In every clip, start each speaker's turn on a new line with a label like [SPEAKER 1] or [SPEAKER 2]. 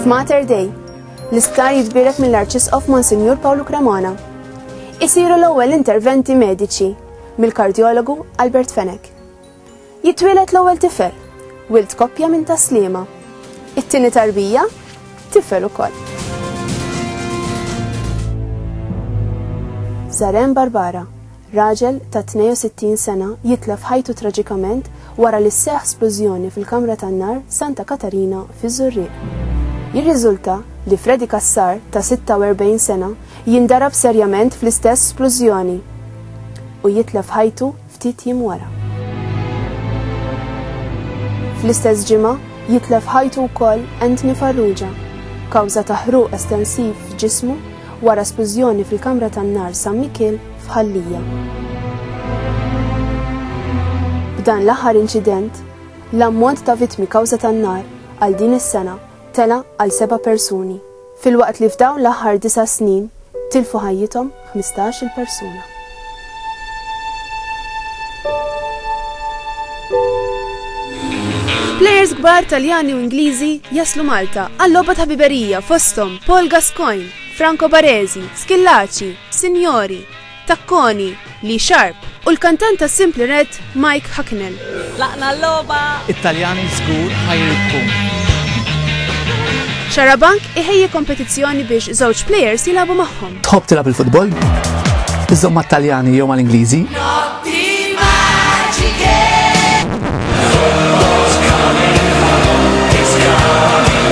[SPEAKER 1] Mater Dei, l-isptar jitbirek mill-Arċisqof Monsinjur Pawlu Cremona. Isiru l-ewwel interventi mediċi mill-kardjologu Albert Fenek. Jitwieled l-ewwel tifel, wild koppja minn Tas-Sliema. It-tieni tarbija, tifel ukoll. Zarem Barbara, raġel ta' 62 sena jitlef ħajtu traġikament wara li sseħħ splużjoni fil-kamra tan-nar Santa Katarina fiż-Żurrieq. Jirriżulta li Freddy Cassar ta' 46 sena jindarab serjament fl-istess splużjoni u jitlef ħajtu ftit jiem wara. Fl-istess ġimgħa, jitlef ħajtu wkoll Anthony Farrugia, kawża ta' ħruq estensiv f'ġismu wara splużjoni fil-kamra tan-nar San Mikiel f'Ħal Lija. B'dan l-aħħar inċident, l-ammont ta' vittmi kawża tan-nar għal din is-sena tela' għal seba' persuni. filwaqt li f'dawn l-aħħar disa' snin tilfu ħajjithom ħmistax-il persuna. Plejers kbar Taljani u Ingliżi jaslu Malta għal logħba ta' ħbiberija fosthom Paul Gascoigne, Franco Baresi, Schillaci, Signori, Takkoni, Lee Sharp u l-kantant ta' Simply Red, Mike Hucknall. Tlaqna l-logħba! It-Taljani żgur ħa jirbħu. Xarabank iħejji kompetizzjoni biex żewġ plejers jilagħbu magħhom. Tħobb tilgħab il-futbol? Iżżomm mat-Taljani jew mal-Ingliżi?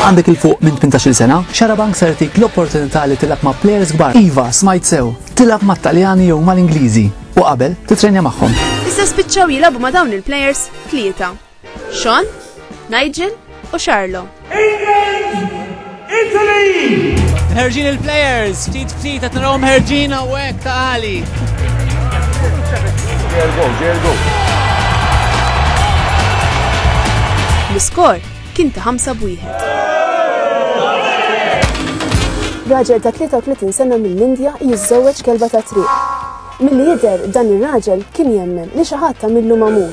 [SPEAKER 1] Għandek 'il fuq minn tmintax-il sena? Xarabank ser jagħtik l-opportunità li tilgħab ma' plejers kbar. Iva, smajt sew! Tilgħab mat-Taljani jew mal-Ingliżi u qabel titrejnja magħhom. Iżda spiċċaw jilagħbu ma' dawn il-plejers tlieta, Sean, Nigel u Charlo. Ħerġin il-plejers, ftit ftit qed narahom ħerġin hawnhekk ta' għali. L-iskor kien ta' ħamsa b'wieħed. Raġel ta' 33 sena mill-Indja jiżżewweġ kelba ta' triq. Milli jidher dan ir-raġel kien jemmen li xi ħadd tagħmillu mamur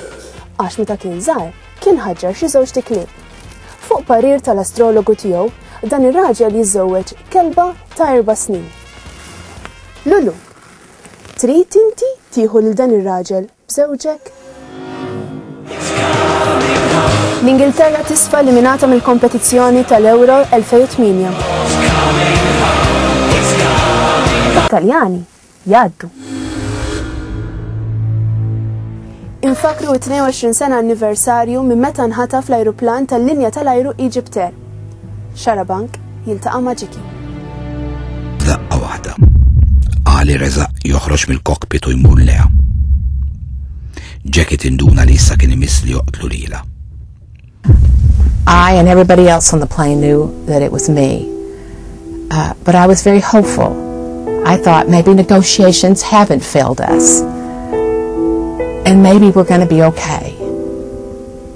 [SPEAKER 1] għax meta kien żgħar kien ħaġġar xi żewġt iklieb. Fuq parir tal-astrologu tiegħu, dan ir-raġel jiżżewweġ kelba ta' erba' snin. Lulu, trid inti tieħu lil dan ir-raġel? b'żewġek? L-Ingilterra tisfa eliminata mill-kompetizzjoni tal-Euro 2008. Taljani jgħaddu. Infakru t-22 sena anniversarju minn meta nħataf l-ajruplan tal-linja tal-ajru Egypt Air. Xarabank jiltaqa' ma' Ġiki. F'daqqa waħda, Ali resa' joħroġ mill-kokpit u jmur lejha. Jackie tinduna li issa kien imiss li joqtlu lilha. I and everybody else on the plane knew that it was me. Uh, but I was very hopeful. I thought maybe negotiations haven't failed us. And maybe we're going to be okay.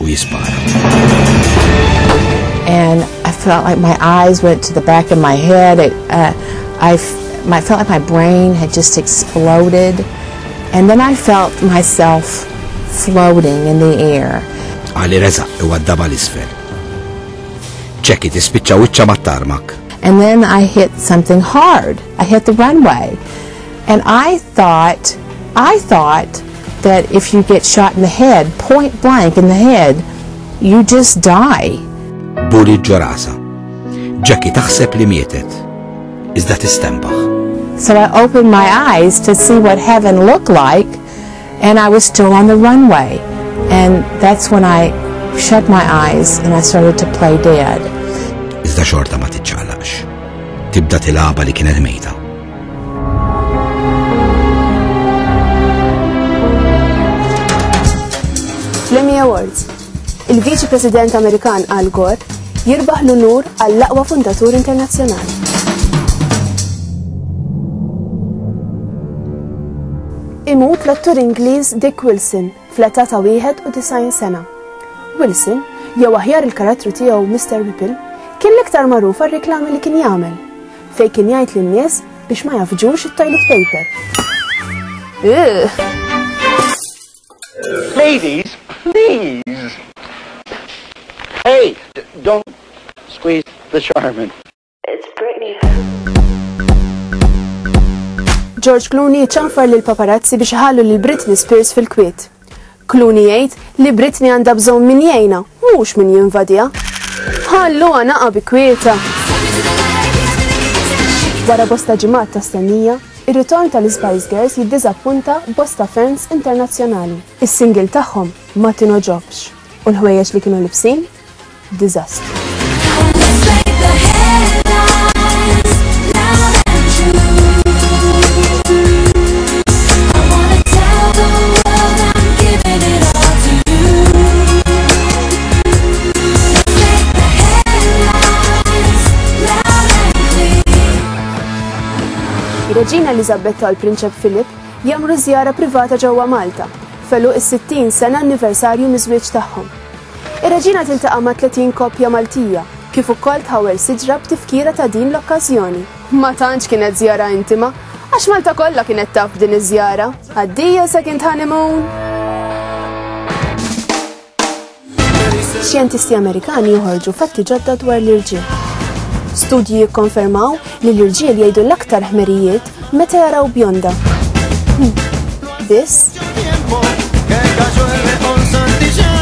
[SPEAKER 1] u jispara. And I felt like my eyes went to the back of my head. It, uh, I, I felt like my brain had just exploded. And then I felt myself floating in the air. Ali reza u għaddaba l-isfel. Ċekki tispiċċa wiċċa mat-tarmak. And then I hit something hard. I hit the runway. And I thought, I thought that if you get shot in the head, point blank in the head, you just die. Bullet ġo rasa. Jackie taħseb li mietet, iżda tistembaħ. So I opened my eyes to see what heaven looked like, and I was still on the runway. And that's when I shut my eyes and I started to play dead. Iżda xorta ma tiċċaqlax. Tibda tilaba li kienet mejta. L-Emmy Awards. Il-Viċi President Amerikan Al Gore jirbaħ l-unur għall-aqwa fundatur internazzjonali. Imut l-attur Ingliż Dick Wilson Fl-età ta' 91 sena, Wilson, jew aħjar il-karattru tiegħu Mister Whipple, kien l-iktar magħruf għar-riklami li kien jagħmel, fejn kien jgħid lin-nies biex ma jafġux it-toilet paper. Ladies, please! Hey, don't squeeze the charmin. It's Britney George Clooney ċanfar lil paparazzi biex ħallu lil Britney Spears fil-kwiet. Clooney jgħid li Britney għandha bżonn min jgħinha, mhux min jinvadija. Ħallu għanaqa bi kwieta. Wara bosta ġimgħat ta' stennija, ir-ritorn tal-Spice Girls jiddiżappunta bosta fans internazzjonali. Is-single tagħhom ma tinoġobx u l-ħwejjeġ li kienu libsin diżastru. Ir-Reġina Eliżabetta u l-Prinċep Philip jagħmlu żjara privata ġewwa Malta, f'għeluq is-60 sena anniversarju miż-żwieġ tagħhom. Ir-Reġina tiltaqa' ma' 30 koppja Maltija, kif ukoll tħawwel siġra b'tifkira ta' din l-okkażjoni. Ma tantx kienet żjara intima, għax Malta kollha kienet taf b'din iż-żjara. Addio second honeymoon! Xjentisti Amerikani joħorġu fatti ġodda dwar l-irġiel. Studji jikkonfermaw li l-irġiel jgħidu l-aktar ħmerijiet meta jaraw bjonda. Biss,